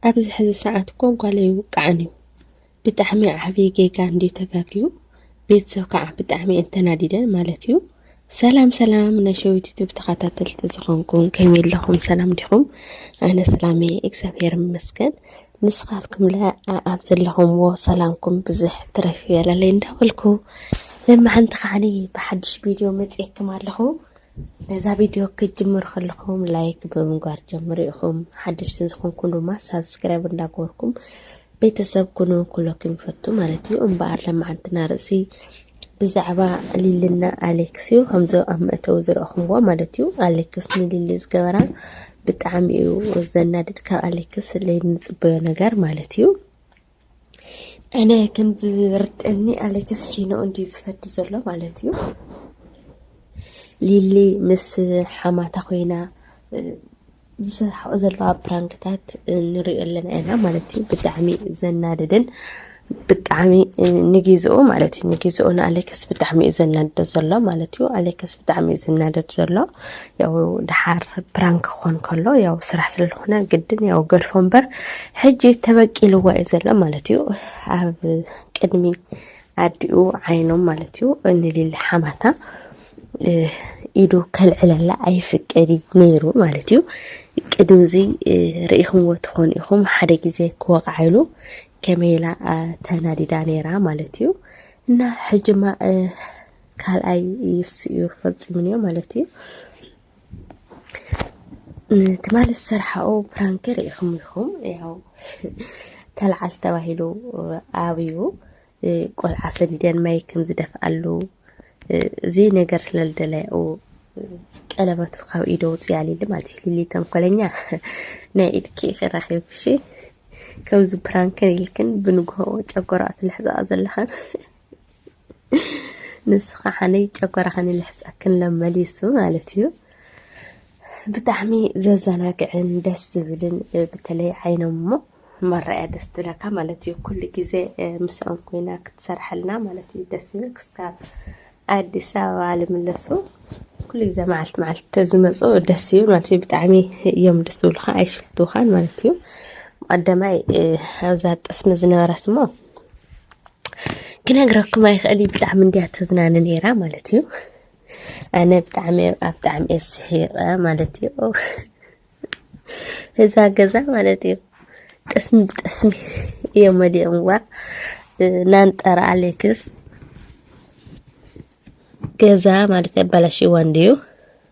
ኣብዚ ሕዚ ሰዓት እኮ ጓል ኣይውቃዕን እዩ ብጣዕሚ ዓብዪ ጌጋ እንድዩ ተጋግዩ ቤተሰብ ከዓ ብጣዕሚ እየን ተናዲደን ማለት እዩ ሰላም ሰላም ናይ ሸዊት ዩቱብ ተኸታተልቲ ዝኾንኩም ከመይ ኣለኹም ሰላም ዲኹም ኣነ ሰላመ እግዚኣብሔር ይመስገን ንስኻትኩም ለ ኣብ ዘለኹምዎ ሰላምኩም ብዝሕ ትረፍ ይበለለይ እንዳበልኩ ለማዓንቲ ከዓኒ ብሓድሽ ቪድዮ መፅኤክም ኣለኹ ነዛ ቪድዮ ክትጅምሩ ከለኹም ላይክ ብምግባር ጀምሩ ኢኹም ሓደሽትን ዝኾንኩም ድማ ሳብስክራይብ እንዳገበርኩም ቤተሰብ ኩኑ ኩለኩም ይፈቱ ማለት እዩ እምበኣር ለማዓንትና ርእሲ ብዛዕባ ሊልና ኣሌክስ እዩ ከምዚ ኣብ መእተዊ ዝረእኹምዎ ማለት እዩ ኣሌክስ ንሊሊ ዝገበራ ብጣዕሚ እዩ ዘናድድ ካብ ኣሌክስ ንፅበዮ ነገር ማለት እዩ ኣነ ከም ዝርድአኒ ኣሌክስ ሒኖ እንድዩ ዝፈቲ ዘሎ ማለት እዩ ሊሊ ምስ ሓማታ ኮይና ዝሰርሓኦ ዘለዋ ፕራንክታት ንሪኦ ኣለና ኢና ማለት እዩ ብጣዕሚ ዘናድድን ብጣዕሚ ንግዝኡ ማለት እዩ ንግዝኡ ንኣሌክስ ብጣዕሚ እዩ ዘናድዶ ዘሎ ማለት እዩ ኣሌክስ ብጣዕሚ እዩ ዝናደድ ዘሎ ያው ድሓር ፕራንክ ክኾን ከሎ ያው ስራሕ ስለዝኾነ ግድን ያው ገድፎ እምበር ሕጂ ተበቂልዋ እዩ ዘሎ ማለት እዩ ኣብ ቅድሚ ኣዲኡ ዓይኖም ማለት እዩ ንሊሊ ሓማታ ኢዱ ከልዕለላ ኣይፍቀድ ነይሩ ማለት እዩ ቅድሚ እዚ ርኢኹምዎ ትኾኑ ኢኹም ሓደ ግዜ ክወቕዓሉ ከመይ ኢላ ተናዲዳ ነይራ ማለት እዩ እና ሕጂማ ካልኣይ እሱ እዩ ፈፂሙ እኒኦ ማለት እዩ ትማሊ ዝሰርሓኦ ፕራንክ ርኢኹም ኢኹም ያው ተልዓል ተባሂሉ ኣብዩ ቆልዓ ሰዲደን ማይ ከም ዝደፍኣሉ እዚ ነገር ስለ ዝደለያኡ ቀለበቱ ካብ ኢዶ ውፅያ ሊሊ ማለት እዩ ሊሊ ተንኮለኛ ናይ ኢድኪ ክረኪብሽ ከምዚ ፕራንክን ኢልክን ብንግሆ ጨጎራ ትልሕዛኣ ዘለኻን ንሱ ከዓ ጨጎራኽን ይልሕፀክን ሎም መሊሱ ማለት እዩ። ብጣዕሚ ዘዘናግዕን ደስ ዝብልን በተለይ ዓይኖም እሞ መረኣያ ደስ ትብለካ ማለት እዩ። ኩሉ ግዜ ምስኦም ኮይና ክትሰርሐልና ማለት እዩ ደስ ዝብል ክስካብ ኣዲስ ኣበባ ልምለሱ ኩሉ ግዜ መዓልቲ መዓልቲ ተዝመፁ ደስ ይብል ማለት እዩ። ብጣዕሚ እዮም ደስ ዝብሉካ ኣይሽልትውኻን ማለት እዩ። ቀዳማይ ኣብዛ ጠስሚ ዝነበረት እሞ ክነግረኩም ኣይክእል እዩ ብጣዕሚ እንድያ ተዝናነ ነይራ ማለት እዩ ኣነ ብጣዕሚ ኣብ ብጣዕሚ እየ ስሒቐ ማለት እዩ እዛ ገዛ ማለት እዩ ጠስሚ ብጠስሚ እዮም መሊኦምዋ ናንጠራ ኣሌክስ ገዛ ማለት ኣባላሽዋ እንድዩ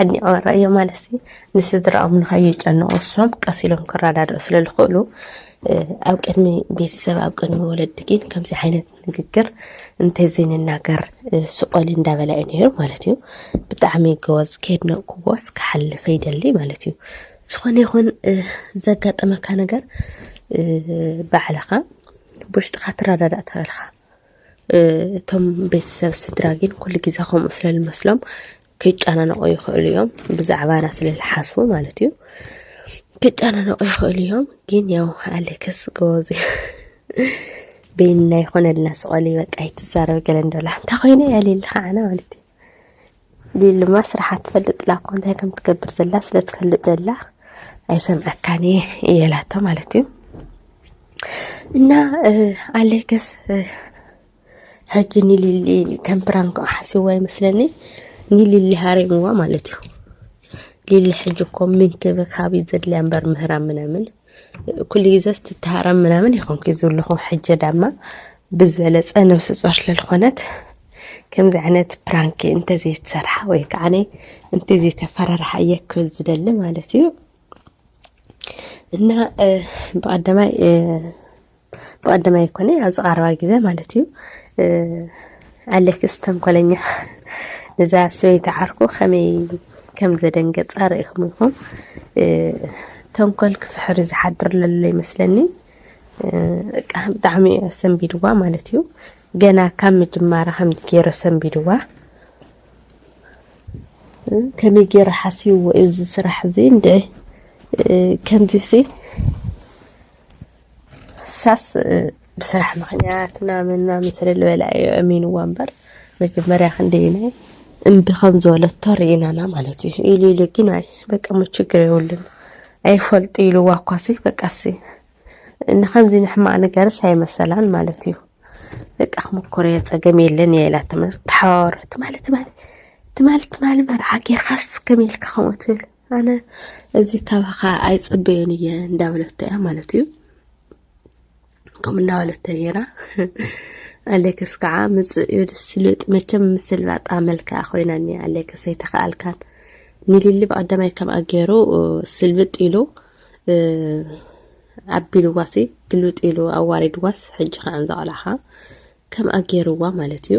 ኣድኒቐ ርእዮ ማለት ንስድራኦም ንኸይጨንቑ እሶም ቀስ ኢሎም ክረዳድኡ ስለ ዝኽእሉ ኣብ ቅድሚ ቤተሰብ ኣብ ቅድሚ ወለዲ ግን ከምዚ ዓይነት ንግግር እንተዘይንናገር ስቆል እንዳበላ እዩ ነይሩ ማለት እዩ ብጣዕሚ ጎበዝ ከየድነቕኩዎስ ክሓልፍ ይደሊ ማለት እዩ ዝኾነ ይኹን ዘጋጠመካ ነገር ባዕልኻ ብውሽጥኻ ትረዳዳእ ትኽእልኻ እቶም ቤተሰብ ስድራ ግን ኩሉ ግዜ ከምኡ ስለ ዝመስሎም ክጨናነቑ ይኽእሉ እዮም ብዛዕባና ስለ ዝሓስቡ ማለት እዩ ክጨናነቑ ይኽእሉ እዮም ግን ያው ኣሌክስ ጎበዝ በይንና ይኾነልና ስቐሊ በቃ ይትዛረብ ገለ እንዶላ እንታይ ኮይነ ያሌልካ ዓነ ማለት እዩ ሊሊማ ስርሓ ትፈልጥ ላኮ እንታይ ከም ትገብር ዘላ ስለ ትፈልጥ ዘላ ኣይሰምዐካን እየ እየ ላቶ ማለት እዩ እና ኣሌክስ ሕጂ ንሊሊ ከም ፕራንክ ሓስዋ ይመስለኒ ንሊሊ ሃሪምዋ ማለት እዩ ሊሊ ሕጂ እኮ ምንክብካብ እዩ ዘድልያ እምበር ምህራም ምናምን ኩሉ ግዜ ስትተሃረም ምናምን ይኾንኩ ዝብልኹ ሕጀ ዳማ ብዝበለፀ ነብሲ ፆር ስለዝኾነት ከምዚ ዓይነት ፕራንክ እንተዘይተሰርሓ ወይ ከዓ እንተዘይተፈራርሓ እየ ክብል ዝደሊ ማለት እዩ እና ብቀዳማይ ብቀደም ኣይኮነ ኣብዚ ቀረባ ግዜ ማለት እዩ ኣሌክስ ተንኮለኛ ነዛ ሰበይቲ ዓርኩ ከመይ ከም ዘደንገፃ ርኢኹም ኢኹም ተንኮል ክፍሕሪ ዝሓድር ለሎ ይመስለኒ ብጣዕሚ እዩ ኣሰንቢድዋ ማለት እዩ ገና ካብ ምጅማራ ከምዚ ገይሩ ኣሰንቢድዋ ከመይ ገይሩ ሓስብዎ እዚ ስራሕ እዚ እንድዒ ከምዚ ሲ ንሳስ ብስራሕ ምኽንያት ምናምን ምናምን ስለ ዝበላ እዩ ኣሚንዋ እምበር መጀመርያ ክንደየናይ እምቢ ከም ዝበለቶ ርኢናና ማለት እዩ ኢሉ ኢሉ ግን ኣይ በቃ ሞ ችግር የብሉን ኣይፈልጡ ኢልዋ እኳ ሲ በቃ ሲ ንከምዚ ንሕማቅ ነገርስ ኣይመሰላን ማለት እዩ በቃ ክምኮር እየ ፀገም የለን እየ ኢላ ተሓዋወረት ትማሊ ትማሊ ትማሊ ትማሊ መርዓ ጌርካስ ከመይ ኢልካ ከምኡ ትብል ኣነ እዚ ካባኻ ኣይፅበዮን እየ እንዳበለቶ እያ ማለት እዩ ከምኡ እንዳበለቶ ነይራ ኣሌክስ ከዓ ምፁእ እዩ ስልጥ መቸም ምስልባጣ መልክዓ ኮይና እኒ ኣሌክስ ኣይተኸኣልካን ንሊሊ ብቐዳማይ ከምኣ ገይሩ ስልብጥ ኢሉ ኣቢልዋሲ ግልብጥ ኢሉ ኣዋሪድዋስ ሕጂ ከዓ ዘቐላኻ ከምኣ ገይርዋ ማለት እዩ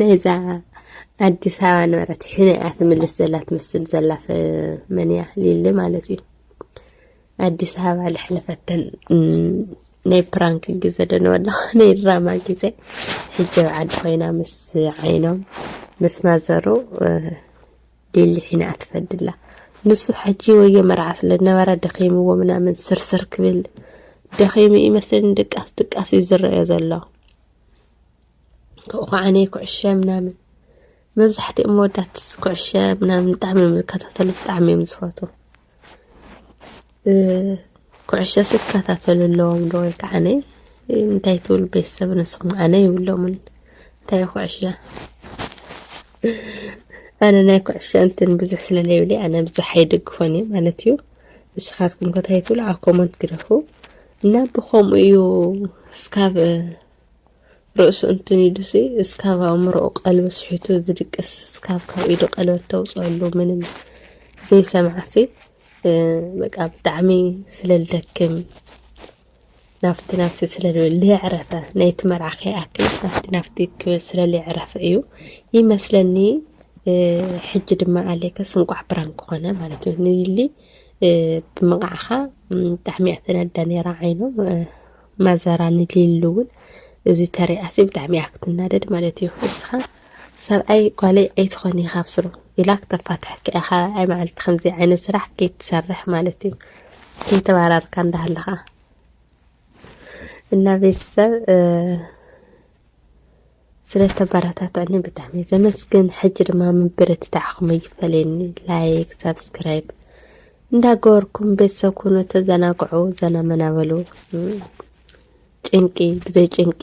ናይዛ ኣዲስ ኣበባ ነበረት ሕነ እያ ትምልስ ዘላ ትመስል ዘላ መን እያ ሊሊ ማለት እዩ ኣዲስ ኣበባ ልሕለፈተን ናይ ፕራንክ ግዘ ደነበላ ናይ ድራማ ግዘ ሕጂ ኣብ ዓዲ ኮይና ምስ ዓይኖም ምስ ማዘሩ ሊሊ ሕነ እያ ትፈድላ ንሱ ሕጂ ወዮ መርዓ ስለ ዝነበረ ደኺምዎ ምናምን ስርስር ክብል ደኺሙ ይመስለኒ ድቃስ ድቃስ እዩ ዝረአዮ ዘሎ ካብኡ ከዓ እኔ ኩዕሸ ምናምን መብዛሕትኦም መወዳት ኩዕሸ ምናምን ብጣዕሚ እዮም ዝከታተሉ ብጣዕሚ እዮም ዝፈትዉ ኩዕሸ ዝከታተሉ ኣለዎም ዶ ወይ ከዓ ነይ እንታይ ትብል ቤተሰብ ንስኹም ኣነ ይብሎምን እንታይ ኩዕሸ ኣነ ናይ ኩዕሸ እንትን ብዙሕ ስለለይብለይ ኣነ ብዙሕ ኣይድግፎን እዩ ማለት እዩ ንስኻትኩም ከታይ ትብሉ ኣብ ኮመንት ግደፉ እና ብከምኡ እዩ እስካብ ርእሱ እንትኒዱሲ እስካብ ኣእምሮኡ ቀልቢ ስሒቱ ዝድቅስ እስካብ ካብ ኢዱ ቀለበት ተውፅኣሉ ምንም ዘይሰምዓሲ በቃ ብጣዕሚ ስለልደክም ናፍቲ ናፍቲ ስለልየዕረፈ ናይቲ መርዓ ከይኣክልስ ናፍቲ ናፍቲ ክብል ስለልየዕረፈ እዩ ይመስለኒ ሕጂ ድማ ኣሌክስ እንቋዕ ብራንክ ኮነ ማለት እዩ ንሊ ብምቕዓኻ ብጣዕሚ እያ ተነዳ ነይራ ዓይኖም ማዘራ ንሊሉ እውን እዚ ተሪኣሲ ብጣዕሚ እያ ክትናደድ ማለት እዩ ንስኻ ሰብኣይ ጓለይ ኣይትኾኒ ካብ ስሩ ኢላ ክተፋትሐካ እያ ካልኣይ መዓልቲ ከምዚ ዓይነት ስራሕ ከይትሰርሕ ማለት እዩ ከይተባራርካ እንዳሃለኻ እና ቤተሰብ ስለዝተባራታታዕኒ ብጣዕሚ ዘመስግን ሕጂ ድማ ምብርትታዕኹም ኣይፈለየኒ ላይክ ሳብስክራይብ እንዳገበርኩም ቤተሰብ ኩኑ ተዘናግዑ ዘና መናበሉ ጭንቂ ብዘይ ጭንቂ